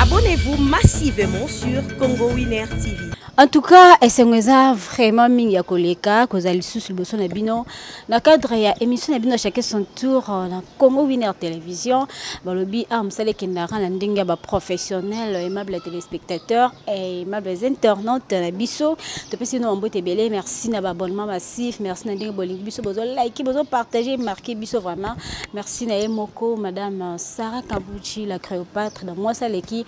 Abonnez-vous massivement sur Congo Winner TV. En tout cas, esengo eza vraiment mingi ya koleka kozala lisusu liboso na bino na cadre ya émission na bino chacun son tour euh, na Congo Winner Télévision balobi ah mosala ekendaka na ndenge ya baprofessionnel aimable ya téléspectateur Hey, eh, ma belle internaute na biso topesi no mbote ebele merci na baabonnement massif merci na ndenge bolingi biso bozo like bozo partager marquer biso vraiment merci na ye moko madame Sarah Kabuchi la Cléopâtre da mwasi aleki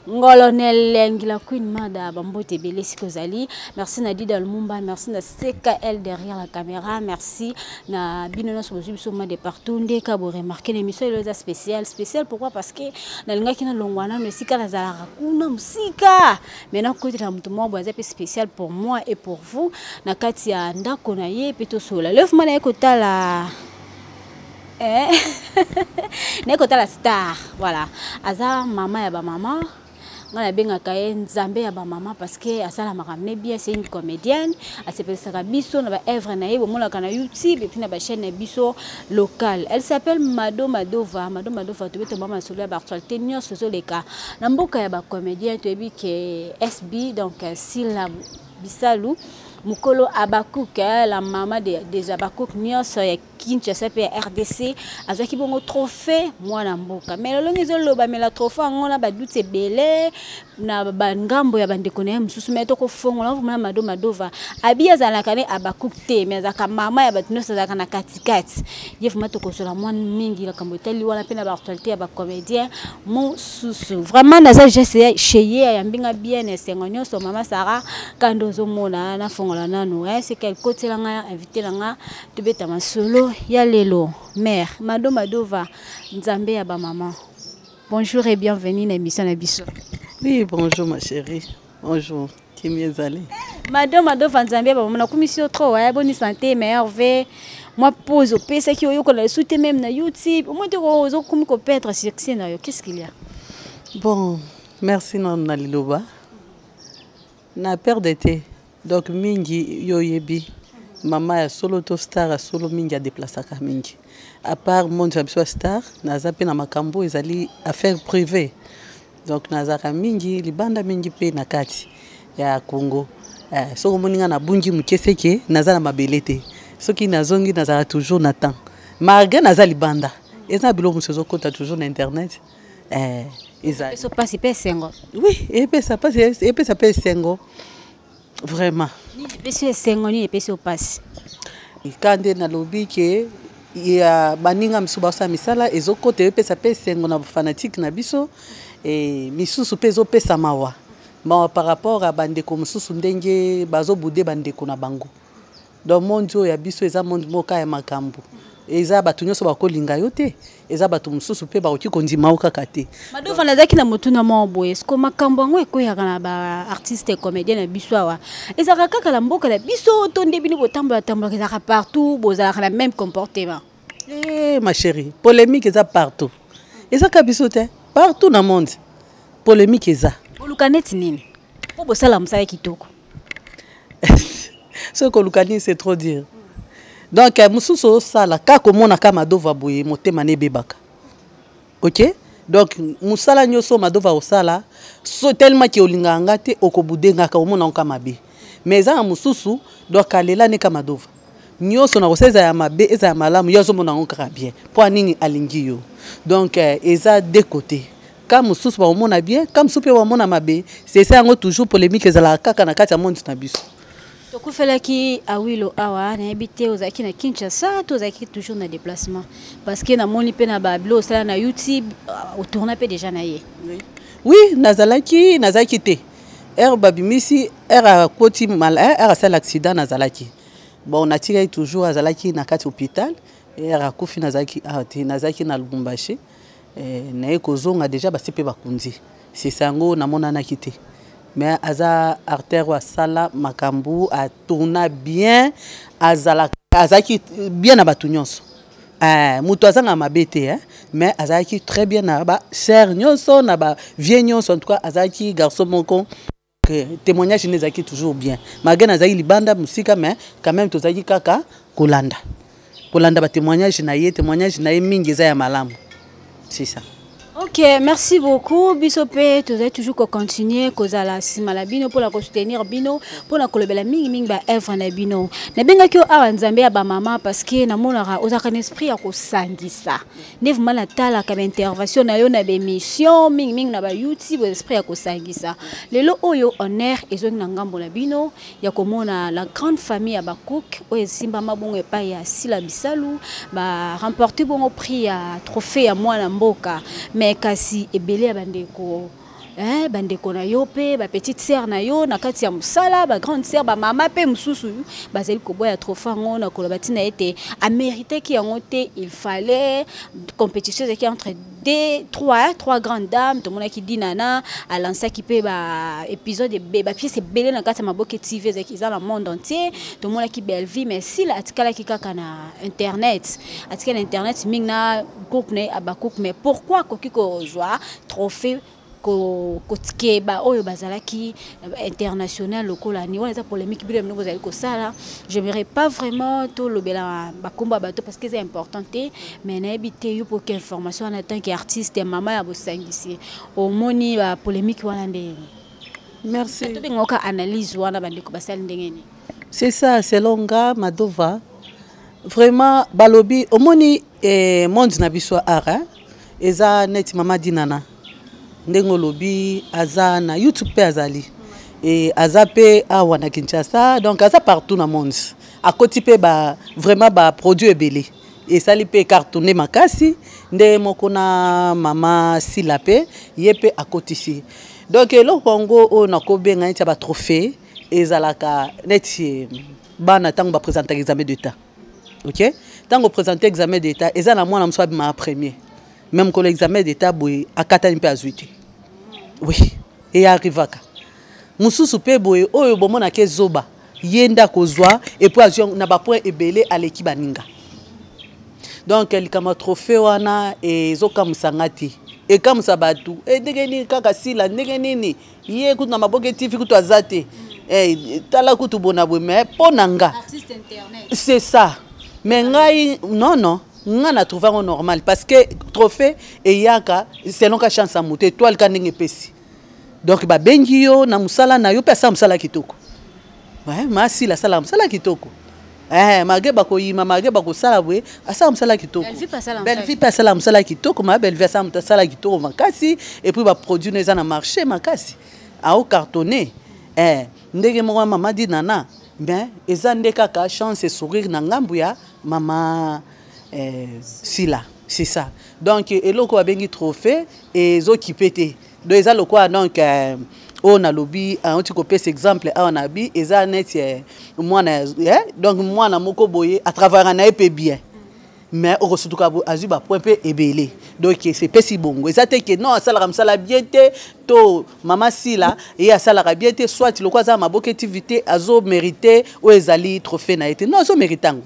ngolonel lengi la queen mada bambote ebele sikoyo ozali merci na dida lumumba merci na ckl derrière la caméra merci na bino nyonso bozwi biso ma de partout nde ka boremarke na émission elo eza spécial spécial pourquoi parce que nalingaki nalongwa nano esika nazalaka kuna mosika mai nakokotela moto moko boye aza mpe spécial pour moi et pour vous na kati ya ndako na ye mpe tosola lefuma naye kotala eh? naye kotala star voilà aza mama ya bamama ngai nabengaka ye nzambe ya bamama parce que asalamaka me bien c'est une comédienne asepelisaka biso na baœuvre na ye bomonaka na youtube epuis na bachaîne na biso locale elle s'appelle mado madova mado madova tobe tobama masolo ya baactualité nyonso ezoleka na mboka ya bacomédien toyebi ke sb donc sila bisalu mukolo abakuk eh, la mama des de abakuk nyonso ya Kinshasa pe ya RDC azwaki bongo trophée mwana mboka mais lolongi ezolobamela trophée yango na baduti ebele na bangambo ya bandeko na ye mosusu mai tokofongola vraimen mado madova abi azalaka ne abakuk te mai azalaka mama ya bato nyonso azalaka na katikati ye vraimen tokosola mwa mingi likambo etali wana mpe na baactualité ya bacomédien mosusu vraimen naza geste chez ye ayambi nga bien esengo nyonso mama sara kando ozomona nafongola nano eh, seke kotiela nga invité na nga tobeta masolo ya lelo mère mado madova nzambe ya bamama bonjour et bienvenue na émission na biso oui bonjour ma chérie bonjour kimi ezali mado madova nzambe ya bamama nakumisi yo trop aya boni santé meilleur ve mwa pose opesaki oyokola lisu te meme na youtube omoi te ozokomi koperdre succès na yo qu'est ce qu'il y a bon merci nanu na liloba na perde te donc mingi yo oyebi mama ya solo to star ya solo mingi adeplasaka mingi apart monde ya biso ya star naza mpe na makambo oyo ezali affaire privée donc nazalaka mingi libanda mingi mpe na kati ya congo eh, soki omoni ngai nabungi moke seke naza na mabele te soki nazongi nazalaka toujours na temps malgre naza libanda eza na biloko mosusu ezokota toujours na internet eh, ezali peso pasi pe sengo oui epesa pasi epesa pe sengo vraiment nini epesi yo esengo nini epesi yo mpasi ka nde nalobi ke ya baninga misusu basala misala ezokota epesa mpe esengo na bafanatike na biso e, misusu mpe ezopesa mawa mawa par rapport ya bandeko mosusu ndenge bazobude bandeko na bango donc monde oyo ya biso eza monde moka ya makambo eza bato nyonso bakolinga yo te eza bato mosusu mpe bakoki kondima yo kaka te madova nazalaki na motuna moko boye siko makambo yango ekweyaka na baartiste comédien na biso awa ezalaka kaka na mboka na biso to nde bino botambola tambolaka ezalaka partout bozalaka na même comportement Eh, ma chérie, polémique est partout. Et ça, Kabisote, hein? partout dans le monde. Polémique est là. Olukaneti nini? Pour bosala musala kitoko. Ce que Olukani, c'est trop dire. Donc, mususu osala, kako mona kama dova boye, motema ne bebaka. ok donc musala nyoso madova osala so tellement ke olingaka nga te okobude ngaka omona nka mabe mais eza na mosusu donc alela neka madova nyoso na kosa eza ya mabe eza ya malamu yo azomona yango kaka bien mpo nini alingi yo donc eh, eza de côté ka mosusu bakomona bien ka mosusu mpe bamona mabe sesa yango toujours polémique ezalaka kaka na kati ya monde na biso tokufelaki awilo awa nayebi te ozalaki na kinshasa to ozalaki toujours na déplacement parce que namoni mpe na babilo osala na youtube euh, otourna mpe déjà na ye oui nazalaki nazalaki te ere babimisi ere akoti ere eh, asala accident nazalaki bon natikaki toujours azalaki na kati hôpital ere akufi nazalaki awa ah, te nazalaki na lubumbashi eh, naye kozonga deja basi mpe bakundi sisa yango namonanaki te mais aza artère oyo asala makambo atourna bien azalaka azalaki bien na bato nyonso eh, moto azanga mabe te eh? mais azalaki très bien na ba sœur nyonso na ba vieux nyonso en tout cas azalaki garçon moko témoignage ne ezalaki toujours bien malgré nazalaki libanda mosika mais quand même tozalaki kaka kolanda kolanda batémoignage na ye témoignage na ye mingi eza ya malamu c'est ça ok merci beaucoup biso mpe tozali toujours kocontinue kozala nsima na bino mpona kosoutenir bino mpona kolobela mingimingi baevre na bino nabengaki yo awa nzambe ya bamama parceke namonaka ozalaka na esprit ya kosangisa nde vraimen natalaka baintervention na yo na baémission mingimingi na bayoutube esprit ya kosangisa lelo oyo honneur ezongi na ngambo na bino ya komona la grande famille ya bacook oyo esimbama bongo epai ya sila bisalu baremporte bongo prix ya trophée ya mwana mboka mais kasi ebele ya bandeko eh, bandeko na yo mpe bapetite sere na yo na kati ya mosala bagrande sere bamama mpe mosusu bazali koboya trofe yango na koloba ntina ete ameritaki yango te il fallait compétition ezalaki entre de trois trois grandes dames tomonaki dinana alansaki mpe baépisode bapiese ebele na kati ya maboke tv ezalaki eza na monde entier tomonaki bellevie mais sila atikalaki kaka na internet atikali na internet mingi na groupe na ye abacook mais pourquoi akoki kozwa trophée kotike baoyo bazalaki euh, international lokola ni wana eza polémique bino bino bozali kosala je merai pas vraiment tolobela bakombo ya bato parce que eza important te mais nayebi te yo poki information wana tant que artiste ya mama ya bosangisi omoni bapolémique wana nde merci tobengaka analyse wana bandeko basali ndenge nini c'est ça selon nga madova vraiment balobi omoni eh, monde na biso ara eza neti mama dinana ndenge olobi aza na youtube mpe azali e, aza mpe awa na kinshasa donc aza partout na monde akoti mpe ba, vraiment baproduit ebele esali mpe cartone makasi nde moko na mama sila mpe ye mpe akotisi donc eloko yango oyo nakobenga neti ya batrophée ezalaka neti bana ntango bapresentaka examen de temps ok ntango opresente examen d'état eza na mwana mosusu abimaka premier me mokolo examen d'état boye akatani mpe azwi te oui eye arrivaka mosusu mpe boye oyo bomonaka ezoba ye nde akozwa epuis azwi na bapoint ebele aleki baninga donc likambo ya trophée wana ezokamwisa nga te ekamwisa bato e ndenge nini kaka sila ndenge nini ye kutu na maboke tv kutu aza te eh, tala kutu bona boye mais mpo na nga c'est ça mais ngai non non nga na trouve yango normal parce que trophée eyaka selon ka chance ya moto etoile ka ndenge epesi donc babengi yo na mosala na yo mpe asala mosala kitoko eh, masila asalaka mosala kitoko eh, mage bakoyima mage bakosala boye asala mosala kitoko bellevie mpe asala mosala kitoko ma bellevie asala moto asala kitoko makasi epuis baproduit no eza na marché makasi ao cartonne eh, ndenge moko ya mama di nana ben eza nde kaka chance sourire na ngambo ya mama eh, sila c'est ça donc eloko babengi trophée ezokipe te donc eza lokola donc euh, oyo nalobi auti euh, kopesa exemple awa na bi eza neti euh, mwana donc mwana moko boye atravara na ye mpe bien mais okosutuka azwi bapoint mpe ebele donc sepesi bongo eza te ke non asalaka mosala bien te to mama sila ye asalaka bien te soit lokola aza na maboka etivité azomérite oyo ezali trophée na ye te non azomérite yango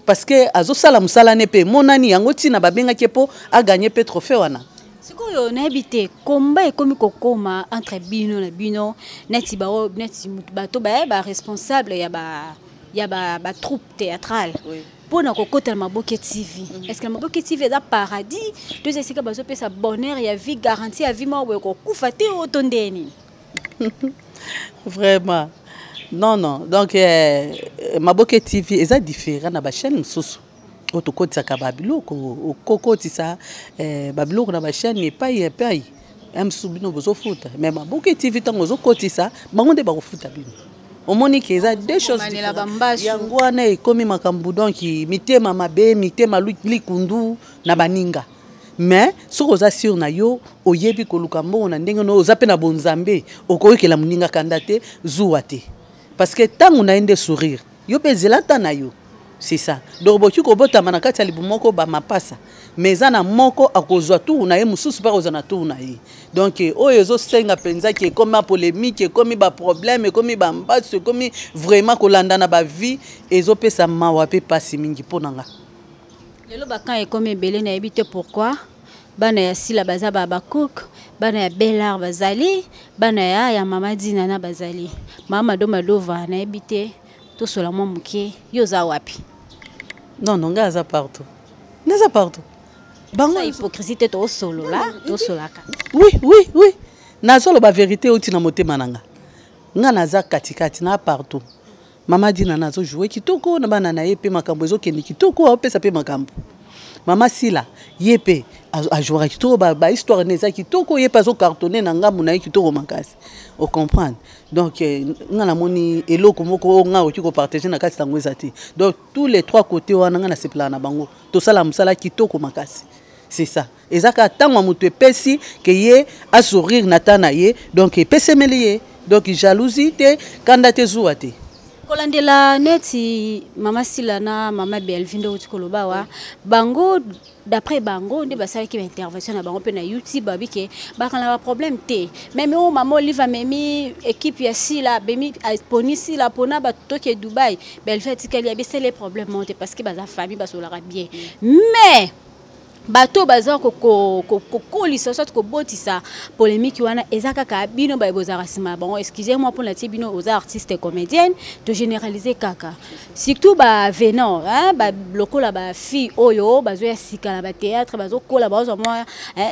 parce que azosala mosala ne mpe emonani yango ntina babengaki ye mpo aganye mpe trophée wana sikoyo nayebi te komba ekomi kokoma entre bino na bino neti baoyo neti bato baye baresponsable ya ba ya ba, ba troupe théâtrale oui. mpo na kokota na maboke tv mm -hmm. est ce que na maboke tv eza paradis to eza esika bazopesa bonheur ya vie garantie ya vie moko boye kokufa te oyo to ndee nini vraiment non non donc eh, maboke tv eza différent na bachaîne mosusu oyo tokotisaka babiloko okokotisa eh, babiloko na bachaîne epai epai ya mosusu bino bozofuta me maboke tv ntango ozokotisa bango nde bakofuta bino omoni ke eza deux choses yango wana ekomi makambo donki mitema mabe mitema likundu na baninga mais soki oza sur na yo oyebi koluka mbongo na ndenge no oza mpe na bonzambe okoyokela moninga kanda te zuwa te parce que ntango na ye nde sourire yo mpe ezela nta na yo c'est ça donc boki kobotama na kati ya libu moko bamapasa mais eza na moko akozwa tour na ye mosusu mpe akozwa na tour na ye donc eh, oyo ezosenga mpenza ke ekomi bapolémike ekomi baproblème ekomi bambasu ekomi vraiment kolandana bavie ezopesa mawa mpe mpasi mingi mpo na ngai lelo bakan ekomi ebele nayebi te pourquoi bana ya sila baza babakouk bana ya bellar bazali bana ya ya mama dinana bazali mama do madova nayebi te tosola mwa moke yo oza wapi non non ngai aza partout ngai aza partout bango hypocrisie te tosolola tosolaka oui oui oui nazoloba verité euti na motema na nga nga naza katikati na partout mama dinana azojoue kitoko na bana na ye mpe makambo ezokende kitoko aopesa mpe makambo mama sila ye mpe ajouaka kitoko bahistoire ba ne eza kitoko ye mpe azocartonne na ngambo na ye kitoko makasi ocomprendre donc eh, nga namoni eloko moko oyo nga okoki kopartage na kati yango eza te donc tous les trois côté wana nga nasepelaka na bango tosala mosala kitoko makasi c'est ça eza kaka ntango ya moto epesi ke ye asourire na ta na ye donc epesemeli ye donc jalousie te kanda te zuwa te kolandela neti mama sila na mama belvi nde outi koloba wa bango d'après bango nde basalaki baintervention na bango mpe na youtube babi ke bakana baproblème te meme oyo mama olive amemi équipe ya sila abemi aponi sila mpona bato toke dubai belvi atikali abesele problème moko te parce que baza famille basolaka bien mais bato oyo baza kokolisa soit kobotisa polémique wana eza kaka bino baye bozalaka nsima ya bango excuse moi mpo natie bino oza artiste comédienne to généralise kaka surtout bavenant lokola bafille oyo bazoya sika na bathéâtre bazokola bazwa mwa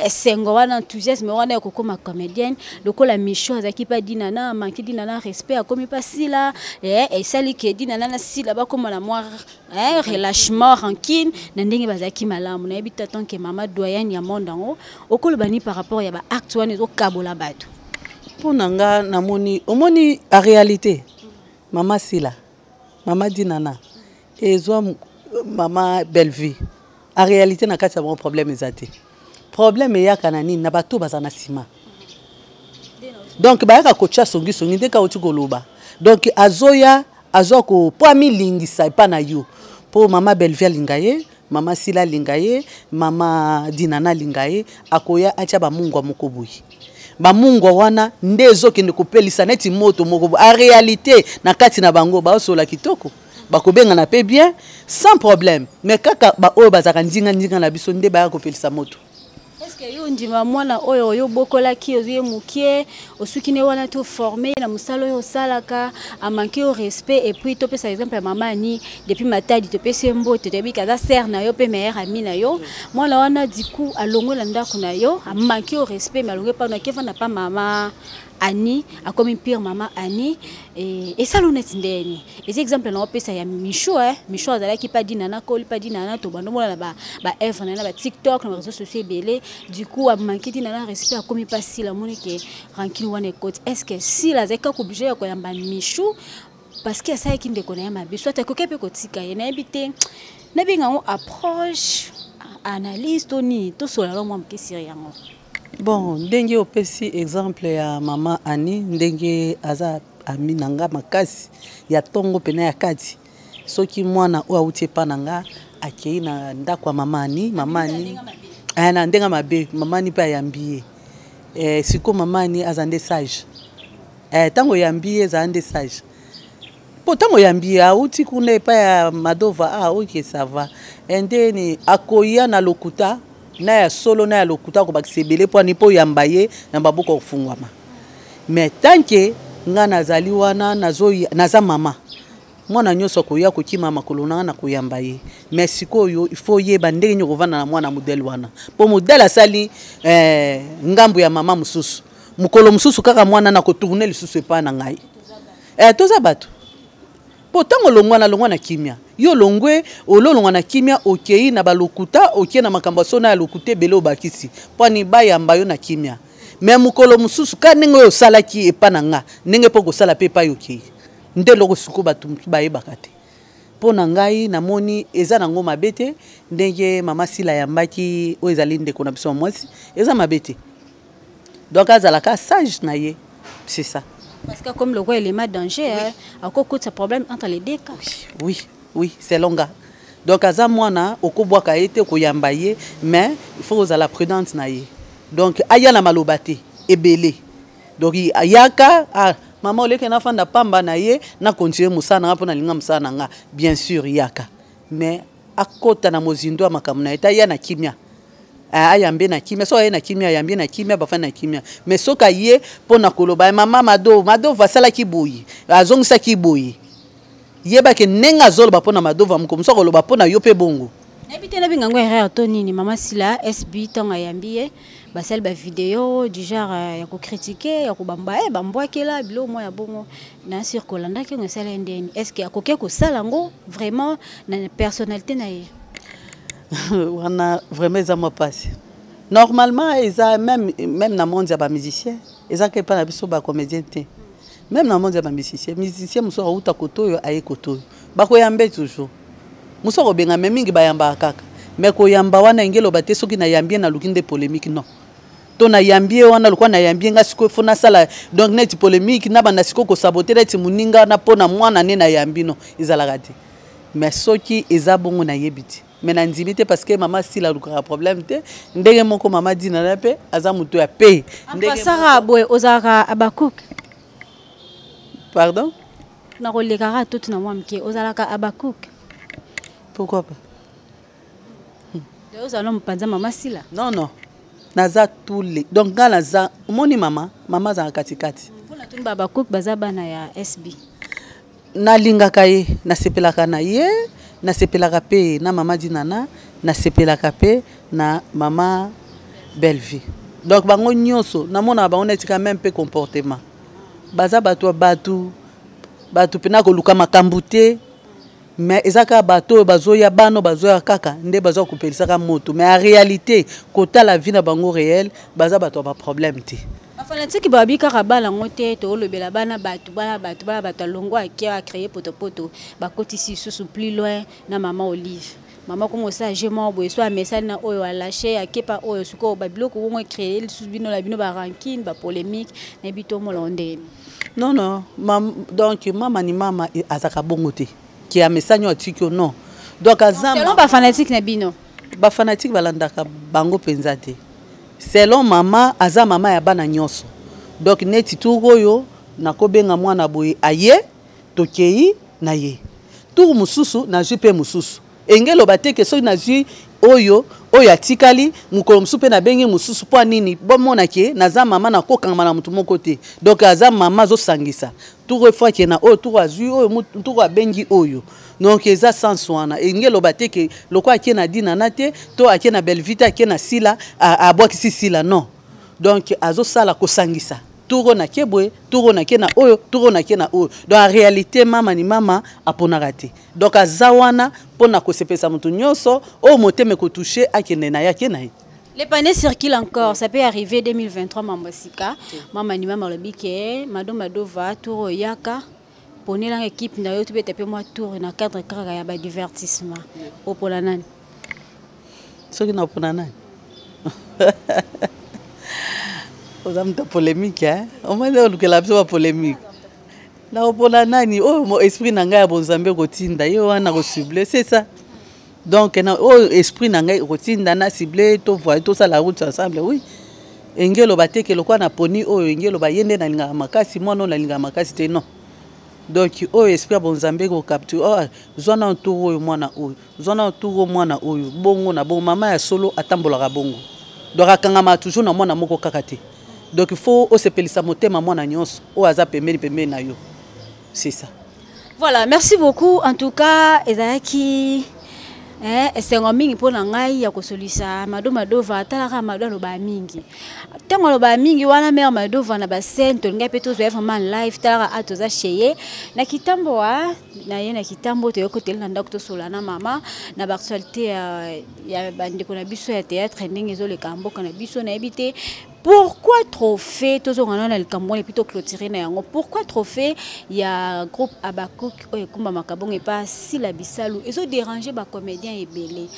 esengo wana enthousiasme wana ya kokoma comédienne lokola micho azalaki mpe dinana amanki dinana respect akomi mpe asila esali ke dinana na sila bakoma na mwa eh, relâchement rancune na ndenge bazalaki malamu nayebi te tant que mama doyenne ya monde yango okoloba nini par rapport ya baacte wana ezokabola bato mpo na nga namoni omoni a réalité mama sila mama dinana ezwa mama bellevue a réalité na kati ya bango problème eza te problème eyaka na nini na bato baza na nsima donc bayaka kotya songisongi nde kauti koloba donc azoya azoya ko mpo amilingisa epa na yo mpo mama belvie alinga ye mama sila alinga ye mama dinana alinga ye akoya atya bamungwa moko boye bamungwa wana nde ezokende kopelisa neti moto moko boye arealité na kati na bango baosola kitoko bakobengana mpe bien sans problème mais kaka baoyo bazalaka ndinga na biso nde baya kopelisa moto eske yo ondima mwana oyo oyo obokolaki ozwi ye mokie osuki ne wana te oforme ye na mosala oyo osalaka amanke yo respect epuis topesa exemple ya mama ani depuis matadi topesi ye mbote toyebi ke aza sere na yo mpe meilleur ami na yo mwana wana diku alongwe na ndako na yo amanke yo respect me alongwe mpano akefanda mpa mama Annie akomi pire maman Annie et et ça l'honnête ndeni les exemples na opesa ya Michou hein Michou azalaki pas dit nana koli pas dit nana to bando mona ba ba œuvre nana ba TikTok na réseaux sociaux belé du coup a manqué dit nana respect akomi pas si la moni que rancune wana écoute est-ce que si la zeka ko obligé ya ko yamba Michou parce que asalaki ndeko na ye mabe soit akoki mpe kotika ye nayebi te nabenga yango approche analyse to nini tosola yango mwa moke siri yango Bon, ndenge opesi exemple ya mama Annie, ndenge aza ami na nga makasi ya tongo pena ya kati. Soki mwana oyo auti epa na nga akei na ndako ya mama Annie, mama Annie eh, na ndenge mabe mama Annie mpe ayambi ye eh, sikoyo mama Annie aza nde sage eh, ntango oyambi ye ezala nde sage mpo ntango oyambi auti kuna epai ya madova a ah, oke sava eh, ndeni akoya na lokuta na ya solo na ya lokuta akobakisa ebele mpo ani mpo oyamba ye na babuku ya kofungwama mais tanke ngai nazali wana naza mama mwana nyonso akoya kokima makolo na ngai nakoyamba ye mais sikoyo ifo oyeba ndenge nini okovanda na mwana modele wana mpo modele asali eh, ngambo ya mama mosusu mokolo mosusu kaka mwana nakotourne lisusu epai na ngai eh, toza bato mpo ntango olongwa na longwa na kimia yo olongwe ololongwa na kimia okei na balokuta okei na makambo ya sona ya lokuta ebele obakisi mpani bayamba yo na kimia me mokolo mosusu ka ndenge oyo osalaki epa na nga ndenge mpo okosala mpe epai okei nde eloko suku bato bayebaka te mpo na ngai namoni eza nango mabe te ndenge mama sila ayambaki oyo ezali ndeko na biso ya mwasi eza mabe te donc azalaka sage na ye c'est ça parce que comme le roi elema danger oui. hein, akokutisa problème entre les deux cas oui oui selon nga donc aza mwana okobwaka ye te koyamba ye mais il faut kozala prudente na ye donc aya na maloba te ebele donc ayaka ah, mama oleke nafanda pamba na ye na continue mosala na nga mpo nalinga mosala na nga bien sûr yaka mais akota na mozindo ya makambo na ye te aya na kimia ah, ayambe na kimia soki aye na kimia ayambi na kimia bafani na kimia mais soki aye mpo na koloba mama mado madova asalaki boye azongisaki boye yebake ndenge azoloba mpo na madova moko mosu akoloba mpo na yo mpe bongo nayebi te nabenga yango erreur to nini mama sila sb ntango ayambi ye basali bavideo du genre euh, ya kokritike ya kobamba e eh, bambwakela biloko mwa ya bongo na sur kolandaki yango esala ye ndeni est ce que akoki kosala yango vraiment na personnalité na ye wana vraiment eza mwa mpasi normalement eza même, même na monde ya bamusicien eza ke mpa na biso bacomédien te meme na monde ya bamisicien musicien mosusu akouta koto oyo aye koto oyo bakoyambe toujours mosusu akobenga me mingi bayambaka kaka me koyamba wana enge eloba te soki nayambi ye naluki nde polémique non to nayambi ye wana lokola nayambi ye ngai sikoyo fo nasala donc neti polémique nabanda sikoyo kosabote neti moninga na mpo na mwana nde nayambi no ezalaka te mais soki eza bongo nayebi te mais na ndimi te parce que mama sila alukaka problème te ndenge moko mama dina na mpe aza moto ya pe ndengepasaka boye ozalaka abakuk pardon nakolekaka tuti na mwa moke ozalaka abakuk pourquoi pas ozala no mopanza mama sila non non naza tous les donc nga naza omoni mama mama azalaka katikati mpona tuni babakuk baza bana ya sb nalingaka ye nasepelaka na ye nasepelaka mpe na mama dinana nasepelaka mpe na mama bellevie donc bango nyonso namonaka bango neti quand même mpe comportement baza bato ya bato bato mpe nakoluka makambo te mais eza kaka bato oyo bazoya bano bazoya kaka nde baza kopelisaka moto mais en réalité kotala vie na bango réel baza bato ya baproblème te bafanatiki babi kaka bana yango te toolobela bana bato bana bato bana bato alongo akia acreye potopoto bakotisi lisusu plus loin na mama olive mama kongo osala je moko boye so amesani na oyo alashe akepa oyo sikoyo babiloko kongo ecreye lisusu bino na bino barankine bapolémique nayebi tomolao ndenge non non mam, donc mama ni mama e, azaka bongo te ke amesani oyo atiki yo non donc aza bafanatique na bino bafanatique balandaka bango mpenza te Selon mama aza mama ya bana nyoso. Donc neti tour oyo nakobenga mwana boye aye tokeyi na ye. Tour mususu nazwi pe mususu. Enge loba te ke soki nazwi oyo oyo atikali mokolo mosusu mpe nabengi mosusu mpo nini bomona ke naza mama nakokangama na moto moko te donk aza mama azosangisa tour efwake na oyo tour azwi oyo tour abengi oyo donc eza sens wana elingi eloba te ke loko ake na dina na te to ake na bellevue te ake na sila abwakisi sila non donc azosala kosangisa turo na ke boye turo na ke na oyo turo na ke na oyo donc en réalité mama ni mama aponaka te donc aza wana mpo na kosepelisa moto nyonso oyo motema ekotouche akende na ye ake na ye Les panneaux circulent encore, ça peut arriver 2023 Mambosika. Maman ni maman le bique, Madame Madova, Touro Yaka. ponela nga ekipe na yo tobeta mpe mwa tour na cadre kaka ya badivertissement opona nani soki napona nani oza moto ya polémique e omoni olukela biso bapolémique nakopona nani oyo oh, esprit na ngai ya bonzambe ekotinda ye wana kosible c'est ça donc na oyo esprit na ngai ekotinda na cible to voye tosala route ensemble oui engelo bateke lokola na poni oyo engelo baye nde nalingaka makasi mwana oyo nalingaka makasi te non donc oyo esprit ya bonzambe ekokapti oh, ah, zwa na tour oyo mwana oyo zwa na tour oyo mwana oyo bongo na bongo mama ya solo atambolaka bongo donc akangamaka toujours na mwana moko kaka te donc fo osepelisa motema mwana nyonso oyo aza pembeni pembeni na yo c'est ça voilà merci beaucoup en tout cas ezalaki eh, esengo mingi mpo na ngai ya kosolisa mado madova atalaka mado alobaka mingi ntango alobaka mingi wana mare madova na bascene tolingai mpe tozwa ye vraiment live talaka a toza cheye na kitambo wa na ye na kitambo toyei kotele na ndako tosola na mama na baactualité ya, ya bandeko na biso ya théâtre ndenge ezoleka mboka na biso nayebi te pourquoi trophée tozongana na likambo wana epuis toclotire na yango pourquoi trophée ya groupe abacook oyo ekumbamaka bongo epa sila bisalu ezoderange bacomédien ebele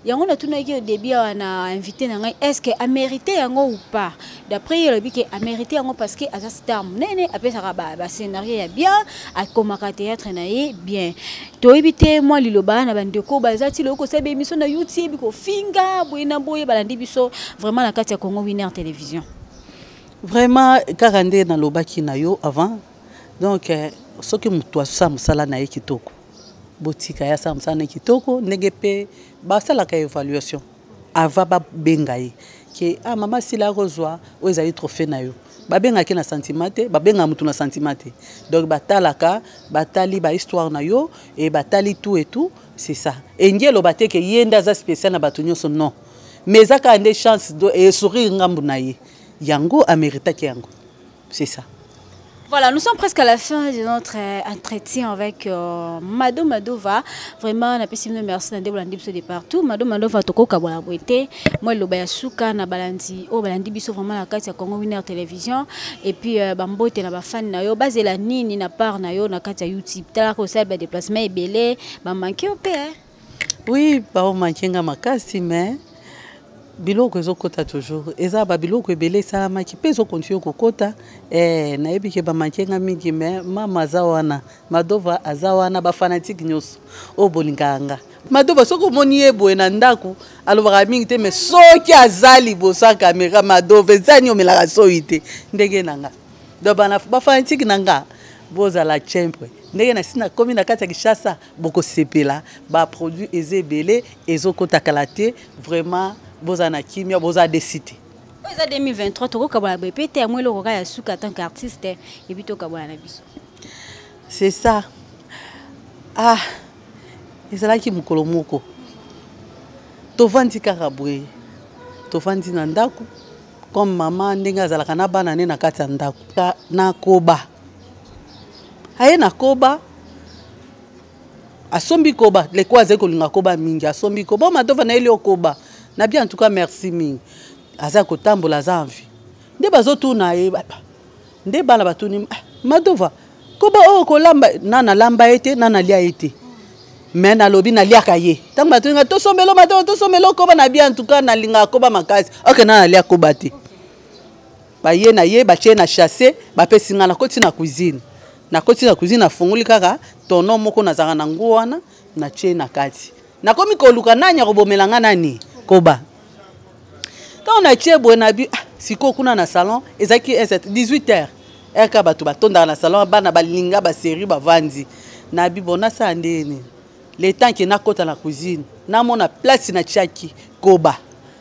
yango natunaki yo debut awa na invité na ngai est ce que amérité yango ou pas d'après ye alobi ke amérité yango parce que aza star monene apesaka bascenario ya bien akomaka théâtre na ye bien toyebi te mwa liloba na bandeko baza ti lokoki kosala baémission na youtube kofinga boye na boye balandi biso vraiment na kati ya congo winner télévision vraiment kaka nde nalobaki na yo avant donc eh, soki moto asala mosala na ye kitoko botika ye asala mosala na ye kitoko ndenge mpe basalaka évaluation avant babenga ye ke ah, mama sila akozwa oyo ezali trophée na yo babengaka ye na sentiment te babengaka motu na sentiment te donc batalaka batali bahistoire na yo e batali tout et tout c'est ça engi eloba te ke ye nde aza spécial na bato nyonso non mais eza kaka nde chance esourire ngambu na ye yango ameritaki yango c'est ça Voilà, nous sommes presque à la fin de notre euh, entretien avec euh, Mado Madova. Vraiment, na pesi mino merci na ndebo landi biso de partout. Mado Madova toko kabona boite. Moi loba ya suka na balandi o oh, balandi biso vraiment na kati ya Congo Winner Television et puis euh, bambote na ba fan na yo bazela nini na part na yo na kati ya YouTube. Tala ko sala ba déplacement ebele, ba manquer au père. Oui, bao manquer nga makasi mais biloko ezokota toujours eza babiloko ebele esalamaki mpe ezokontinue kokota eh, nayebi ke bamanke nga mingi me mama aza wana madova aza wana bafanatike nyonso oyo bolingaka nga madova soki omoni ye boye na ndako alobaka mingi te me soki aza liboso ya kamera madova ezani omelaka soyi te ndenge na nga donc bafanatike na nga bozala chempre ndenge nasi nakomi na kati ya kishasa bokosepela ba produit eza ebele ezokota kala te vraiment boza na kimia boza desi te oyo eza 2023 tokokabwana boye mpe te yango eloko kaka ya suka en tant que artiste ebi tokabwana na biso c'est ça ah ezalaki mokolo moko tovandi kaka boye tovandi na ndako comme mama ndenge azalaka na bana ne na kati ya ndako nakoba aye na koba asombi koba leko azali kolinga koba mingi asombi koba o madova na ye lio koba na bien en tout cas merci mingi aza kotambola aza envi nde bazotuna ye nde bana batuni ah, madova koba oyo oh, kolamba na nalamba ye te na nalia ye te me nalobi naliaka ye ntango batuni nga tosombelo madova tosombelo koba na bien en tout cas nalingaka koba makasi oke na nalia koba te okay. baye na ye batie na chasse bapesi ngai nakoti na cuisine nakoti na cuisine nafungoli kaka tono moko nazalaka na nguo wana natie na kati nakomi koluka nani akobomela ngai nani koba ntango natie boye na bi ah, sikoyo kuna na salon ezalaki 18 heures rk bato batondaka na salon bana balinga baserie bavandi na bi bonasala ndeni le temps ke nakota na cuisine namona place natiaki koba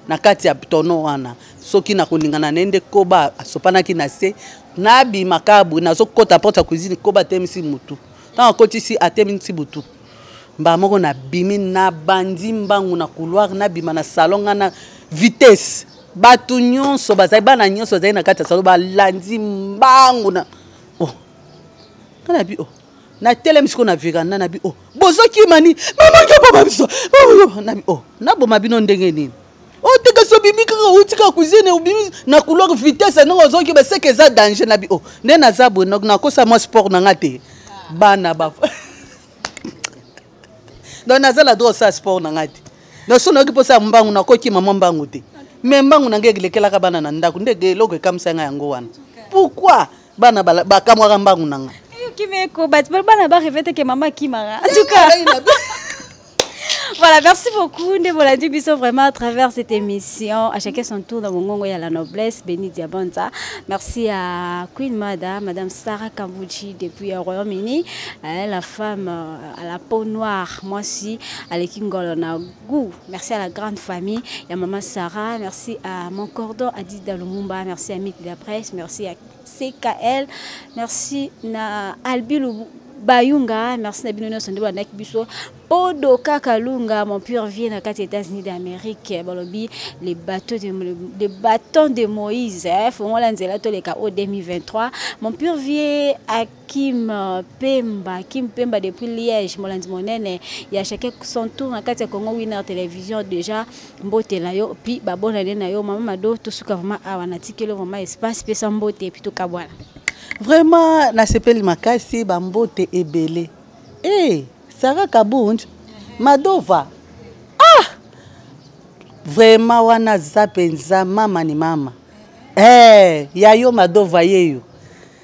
na kati ya tono wana soki nakoningana na ye nde koba asopanaki na se nabima kabwe nazokota porte ya cuisine koba atemisi motu ntango akotisi atemisi butu mbala moko nabimi nabandi mbangu na couloir nabima na salon nga na vitesse bato nyonso bazali bana nyonso bazali na kati ya salon balandi mbangu na oh. nga nabi oh. na telemi sikoyo na veranda na bi o oh, bozokima ni mama nyoboma biso oh, na bi o oh, naboma bino ndenge nini oteka so obimi kaka outi kaka cuisine obimi na couloir vitesse ndenge ozoki baseke eza danger na bi o nde naza boye nakosa mwa sport na nga te bana ba donc naza na droit osala sport na nga te donc so nayoki mposa ya mbangu nakokima mwa mbangu te mais mbangu na nga elekelaka bana na ndako nde eloko ekamisa nga yango wana pourquoi bana bakamwaka mbangu na ngai kimeko bato bana bareve te ke mama akimaka en tout cas voilà, merci beaucoup. Ndeboladi Bisso, vraiment, à travers cette émission, à chacun son tour dans mon gongo, il y a la noblesse, béni Diabonza. Merci à Queen Mada, Madame Sarah Kambuchi, depuis le Royaume-Uni, hein, la femme euh, à la peau noire, moi aussi, à l'équipe Golona, goût. Merci à la grande famille, il y a maman Sarah, merci à mon cordon Adida Lumumba, merci à Mythe de la presse, merci à CKL, merci à Albi Bayunga, merci à Binono Sondo Banak Biso, Podo Kakalunga, mon pur vieux na kati États-Unis d'Amérique, balobi les bateaux de les bâtons de Moïse, hein, faut on l'anzela to les KO 2023, mon pur vieux Kim Pemba, Kim Pemba depuis Liège, Molandi Monene, il y a chacun son tour na kati ya Congo Winner Télévision déjà mbote la yo, puis babona na yo maman Mado tout suka vraiment awa na tikelo vraiment espace pesa mbote et puis tout kabwana. Vraiment na sepeli makasi ba mbote ebele. Eh, hey, Sarah Kabunj, Madova. Ah! Vraiment wana za penza mama ni mama. Eh, hey, ya yo Madova yeyo.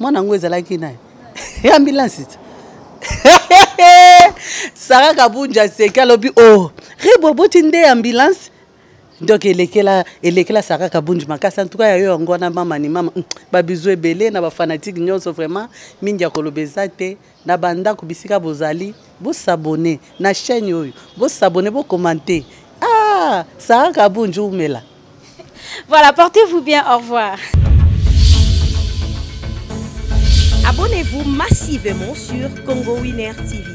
mwana yango ezalaki naye ya ambulance ti sara kabunja aseki alobi o oh, ribo boti nde ambulance donc elekela elekela sara kabunji makasi antuka ya yo yango wana mama ni mama babizu ebele na bafanatique nyonso vraiment mingi ya koloba eza te na bandako bisika bozali bosabone na chaîne oyo bosabone bokomante ah, sara kabunju umela voilà portez vous bien au revoir abonnez vous massivement sur congo winner tv